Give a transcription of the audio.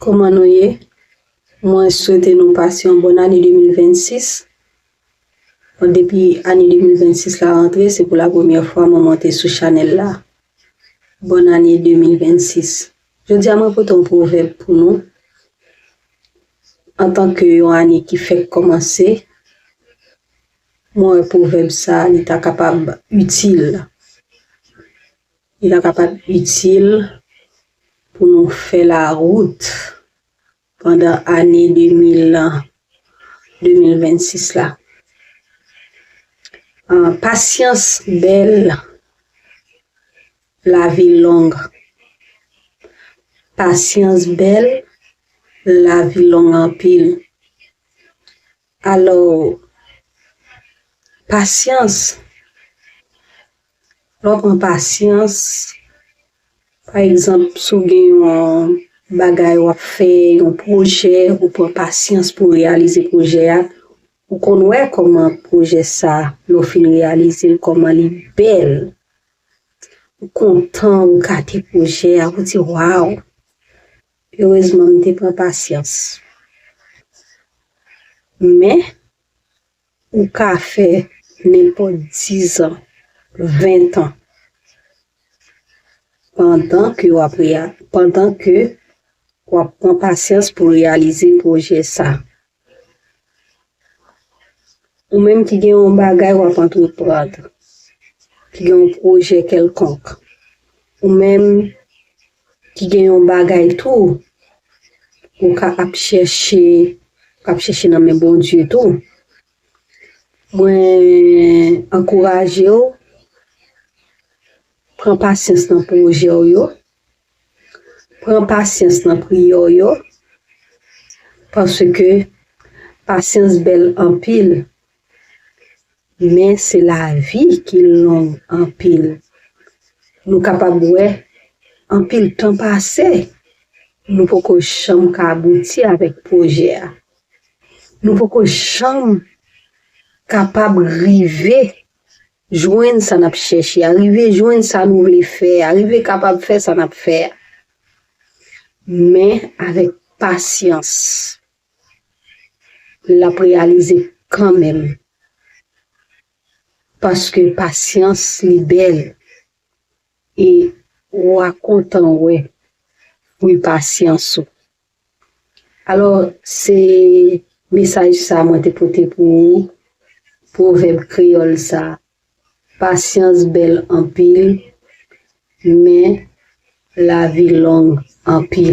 Koman nou ye? Mwen swete nou pase yon bon ane 2026. Bon depi ane 2026 la rantre se pou la premyè fwa mwen monte sou chanèl la. Bon ane 2026. Jodi a mwen pote yon pwovèb pou nou. Antan ke yon ane ki fèk kòmanse, mwen wè pwovèb sa li ta kapab itil. Li ta kapab itil pou nou fè lawout pandan ane 2026 la. Pasyans bèl, lavi long. Pasyans bèl, lavi long anpil. Alò, pasyans. Lè w pran pasyans, pa egzanp si w gen yon bagay w ap fè, yon pwojè, ou pran pasyans pou w reyalize pwojè a, ou konn wè kòman pwojè sa a, lè w fin reyalize l, kòman li bèl. Ou kontan, ou gade pwojè a, ou di waw! Erezman m te pran pasyans. Men, Ou ka fè nenpòt dizan, ventan, pandan ke w ap pandan ke w ap pran pasyans pou reyalize pwojè sa. Ou menm ki gen yon bagay w ap antreprand, ki gen yon pwojè kèlkonk, ou menm ki gen yon bagay tou ou ka ap chèche ap chèche nan men Bondye tou mwen ankouraje ou pran pasyans nan pwojè ou yo pran pasyans nan priyè ou yo paske pasyans bèl anpil Men se lavi ki long anpil. Nou kapab wè anpil tan pase, nou poko janm ka abouti avèk pwojè a. Nou poko janm kapab rive jwenn sa n ap chèche a, rive jwenn sa nou vle fè a, rive kapab fè sa n ap fè a. Men avèk pasyans. lap reyalize kanmenm paske pasyans li bèl e wa kontan wè fwi pasyans ou alò se mesaj sa mwen te pote pou ou pwovèb kreyòl sa pasyans bèl anpil men lavi long anpil.